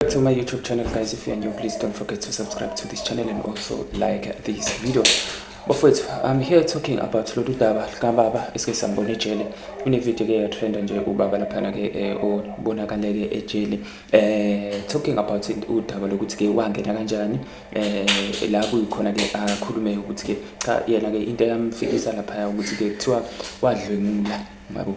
back to my youtube channel guys if you are new please don't forget to subscribe to this channel and also like this video bafowethu i'm here talking about lolu daba likababa esike sambona ejele kunevidiyo ke yatrenda nje ubaba laphana-ke um eh, obonakale-ke ejele um talking about udaba lokuthi-ke wangena kanjani um la kuyikhona-ke akhulume ukuthi-ke cha yena-ke into eyamfikisa laphaya ukuthi-ke kuthiwa wadlwengula yabo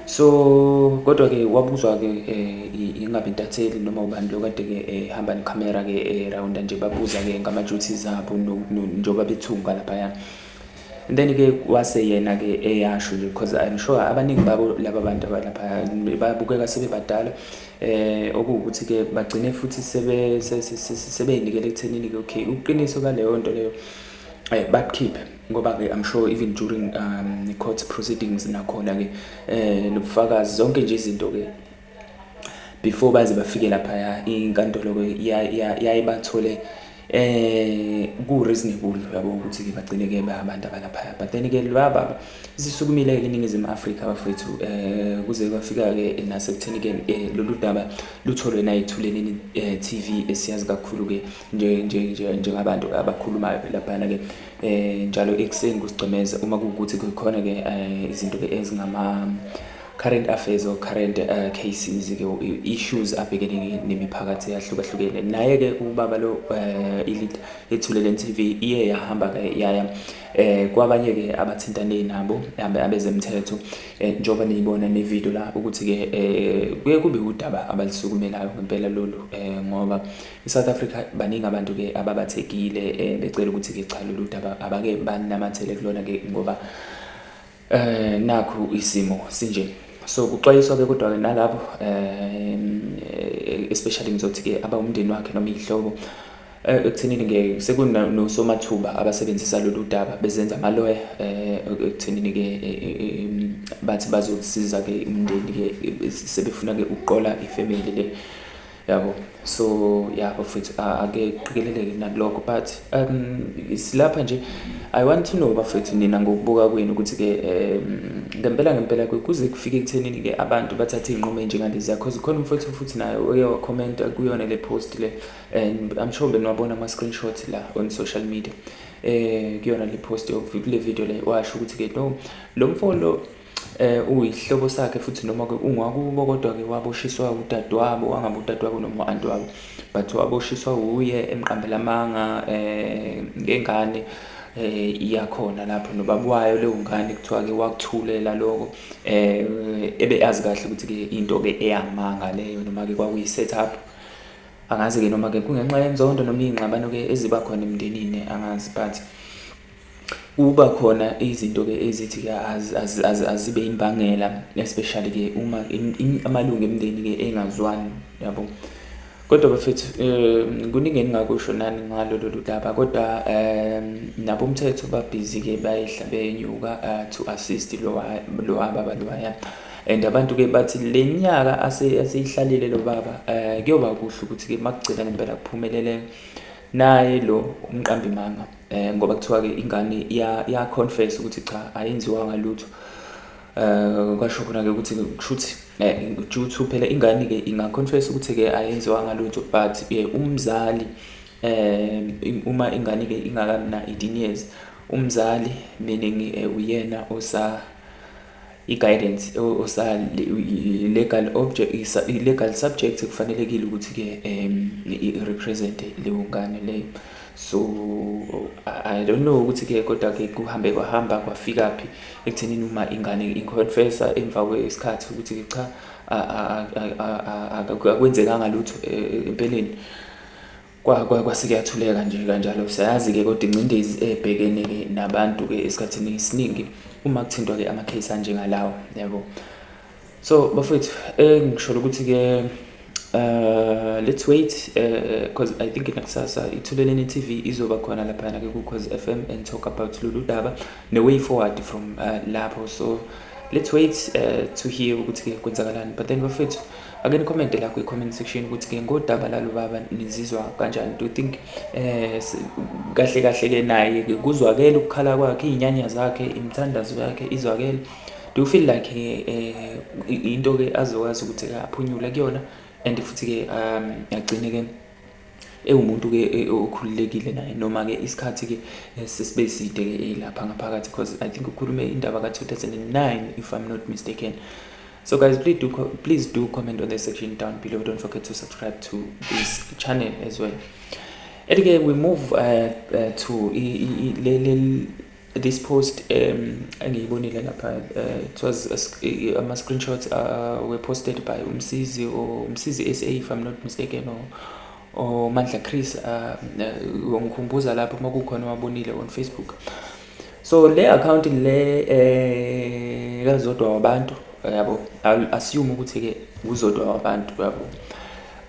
so kodwa-ke wabuzwa-ke um ingabe intatheli noma ubani lo kade-ke ehamba eh, nekhamera-ke erawunda eh, nje babuza-ke ngama-duty zabo njengoba bethunga laphaya and then-ke wase yena-ke eyasho nje because i'm sure abaningi babo laba bantu abalapha babukeka sebebadala eh okuwukuthi-ke bagcine futhi sebey'nikele ekuthenini-ke okay uqiniso kaleyo nto leyo um bakukhiphe ngoba ke I'm sure even during um the court proceedings nakhona ke eh lobufakazi zonke nje izinto ke before baze bafike lapha ya inkantolo ke yayibathole eh ku reasonable yabo ukuthi ke bagcine ke abantu abalapha but then ke laba zisukumile ke iningizimu Africa bafethu eh kuze kwafika ke nasekutheni ke eh, lolu daba lutholwe na ithuleni eh, TV esiyazi kakhulu ke nje nje nje njengabantu abakhulumayo lapha ke eh njalo ekuseni kusigcemeza uma kuwukuthi kukhona ke eh, izinto ke ezingama current affairs or current uh, cases ke issues abhekene nemiphakathi yahlukahlukene naye ke ubaba lo uh, ilit ethulele TV iye yahamba ke yaya eh kwabanye ke abathintane nabo hambe abezemthetho eh, njoba niyibona ne video la ukuthi ke eh kuye kube udaba abalisukumelayo ngempela lolu eh ngoba I-South Africa baningi abantu-ke ababathekile um becela ukuthi-ke cha lolu daba abake banamathele kulona-ke ngoba um nakhu isimo sinje so kuxwayiswa-ke kodwa-ke nalabo um especially ngizothi-ke abawumndeni wakhe noma iy'hlobo Eh, ekuthenini ke sekunosomathuba abasebenzisa lolu daba bezenza amaloya eh, ekuthenini ke eh, bathi bazosiza ke umndeni ke sebefuna ke ukuqola ifamily le yabo so ya bafethu ake qikeleleke nakulokho but um silapha nje i want to know bafethu nina ngokubuka kwenu ukuthi-ke um ngempela ngempela kuze kufike ekuthenini-ke abantu bathathe iy'nqumo enjengalezi yakhoze khona umfethu futhi naye oye wakhomenta kuyona le post le and i'm sure benwabona ama-screenshot la on social media um kuyona le post kule video le washo ukuthi-ke no lo mfolo eh uyihlobo sakhe futhi noma ke ungwakubo kodwa ke waboshiswa udadewabo wangabe udadewabo noma anti wabo but waboshiswa uye emqambela amanga eh ngengane eh iyakhona lapho nobabwayo leyo ngane kuthiwa ke wakuthulela lokho eh ebe azi kahle ukuthi ke into ke eyamanga leyo noma ke kwakuyi set up angazi ke noma ke kungenxa yenzondo noma ingxabano ke eziba khona emndenini angazi but Kuba khona izinto-ke ezithi-ke azibe imbangela especially-ke uma amalungu emndeni-ke engazwani yabo. Kodwa bafethu um kuningi engingakusho nani ngalo lolu daba kodwa um nabomthetho babhizi-ke bayehla benyuka uh, to assist lo baba lowaya and abantu-ke bathi le nyaka aseyihlalile lo baba um kuyoba kuhle ukuthi-ke makugcina ngempela kuphumelele naye lo umqambimanga. eh ngoba kuthiwa ke ingane ya ya confess ukuthi cha ayenziwa ngalutho eh kwasho khona ke ukuthi kushuthi eh juthu phela ingane ke inga confess ukuthi ke ayenziwa ngalutho but eh, umzali eh uma ingane ke ingakamna 18 years umzali meaning eh, uyena osa i-guidance osa legal object i-legal subject kufanelekile ukuthi-ke um i-represente leyo ngane leyo so i don't know ukuthi-ke kodwa-ke kuhambe kwahamba kwafikaphi ekuthenini uma ingane inconfessa emva kwesikhathi ukuthi-ke cha akwenzekanga lutho e, e, empeleni kwa kwa kwase kuyathuleka nje kanjalo siyazi ke kodwa ingcindezi ebhekene ke nabantu ke esikhathini esiningi uma kuthintwa ke ama case anjengalawo yabo so bafethu engisholo eh, ukuthi ke Uh, let's wait because uh, I think nakusasa ithuleleni TV izoba khona laphana ke ku Cause FM and talk about lolu daba ne way forward from uh, lapho so let's wait uh, to hear ukuthi ke kwenzakalani but then bafethu ake nikhomente la kwi-comment section ukuthi-ke ngodaba lalo baba nizizwa kanjani do you think eh kahle kahle-ke naye-ke kuzwakele ukukhala kwakhe iy'nyanya zakhe imithandazo yakhe izwakele do you feel like eh into-ke azokwazi ukuthi-ke aphunyule kuyona and futhi-ke um agcine-ke ewumuntu ke e, e, okhululekile naye noma ke isikhathi ke eh, sesibe side ke eh, lapha ngaphakathi because i think ukhulume indaba ka 2009 if i'm not mistaken so guys please do please do comment on the section down below don't forget to subscribe to this channel as well and again we move uh, uh, to le this post um engiyibonile lapha uh, it was uh, ama screenshots uh, were posted by umsizi or umsizi SA if I'm not mistaken or or Mandla Chris uh, uh, ngikhumbuza lapho uma kukhona wabonile on Facebook so le account le eh kazodwa wabantu yabo assume ukuthi ke uzodwa wabantu yabo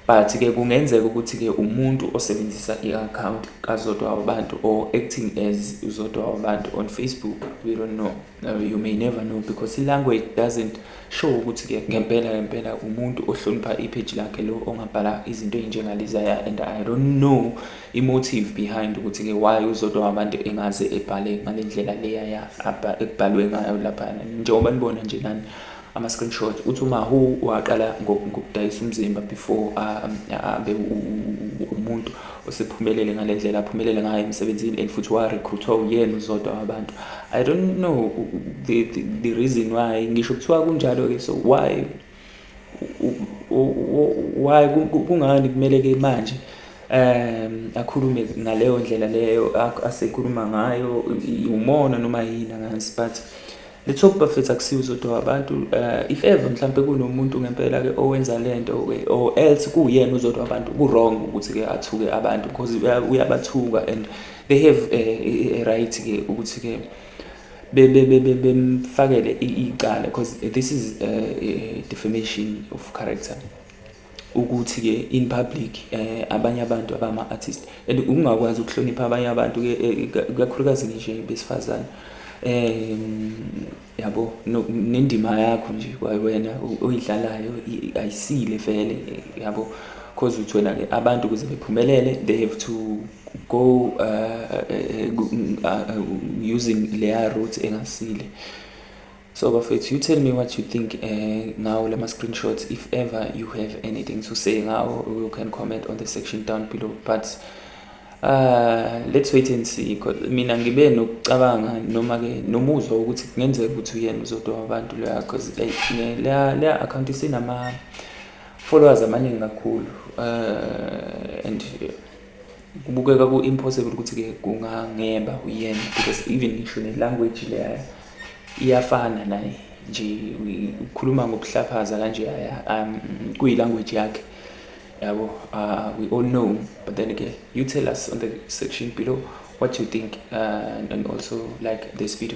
but ke kungenzeka ukuthi ke umuntu osebenzisa i-account kazodwa wabantu or acting as uzodwa wabantu on facebook we don't know uh, you may never know because i-language doesn't show ukuthi ke ngempela ngempela umuntu ohlonipha ipage lakhe lo ongabhala izinto ezinjengalezaya and i don't know i-motive behind ukuthi ke why uzodwa wabantu engaze ebhale ngale ndlela leya ya ekubhalwe ngayo laphana njengoba nibona nje nani ama-screenshot uthi umahu waqala ngokudayisa umzimba before abe umuntu osephumelele ngale ndlela aphumelele ngayo emsebenzini and futhi warekhruthwa uyena uzodwa wabantu i don't know the, the, the reason why ngisho kuthiwa kunjalo-ke so why why kungani kumele-ke manje um akhulume ngaleyo ndlela leyo asekhuluma ngayo umona noma yini angazi but Let's hope bafethu akusiwo uzodwa wabantu uh, if ever mhlampe kunomuntu ngempela ke owenza lento ke or else kuyena uzodwa wabantu ku wrong ukuthi ke athuke abantu because uyabathuka and they have a, a, a right ke ukuthi ke bemfakele icala because this is a, uh, a defamation of character ukuthi ke in public eh abanye abantu abama artist and ukungakwazi ukuhlonipha abanye abantu ke eh, kakhulukazi nje besifazane eh yabo nendima yakho nje wena oyidlalayo ayisile vele yabo because uthi wena ke abantu kuze bephumelele they have to go uh, uh, uh, uh using leya route engasile So bafethu you tell me what you think eh ngawo lama screenshots if ever you have anything to say ngawo you can comment on the section down below but uh let's wait and see because mina ngibe nokucabanga noma ke nomuzwa ukuthi kungenzeka ukuthi uyena uzodwa abantu leya because leya leya account isinama followers amaningi kakhulu uh and kubukeka ku impossible ukuthi ke kungangeba uyena because even ngisho ne language leya iyafana naye nje ukhuluma ngokuhlaphaza kanje um, kuyi language yakhe yabo uh, we all know but then again you tell us on the section below what you think uh, and also like this video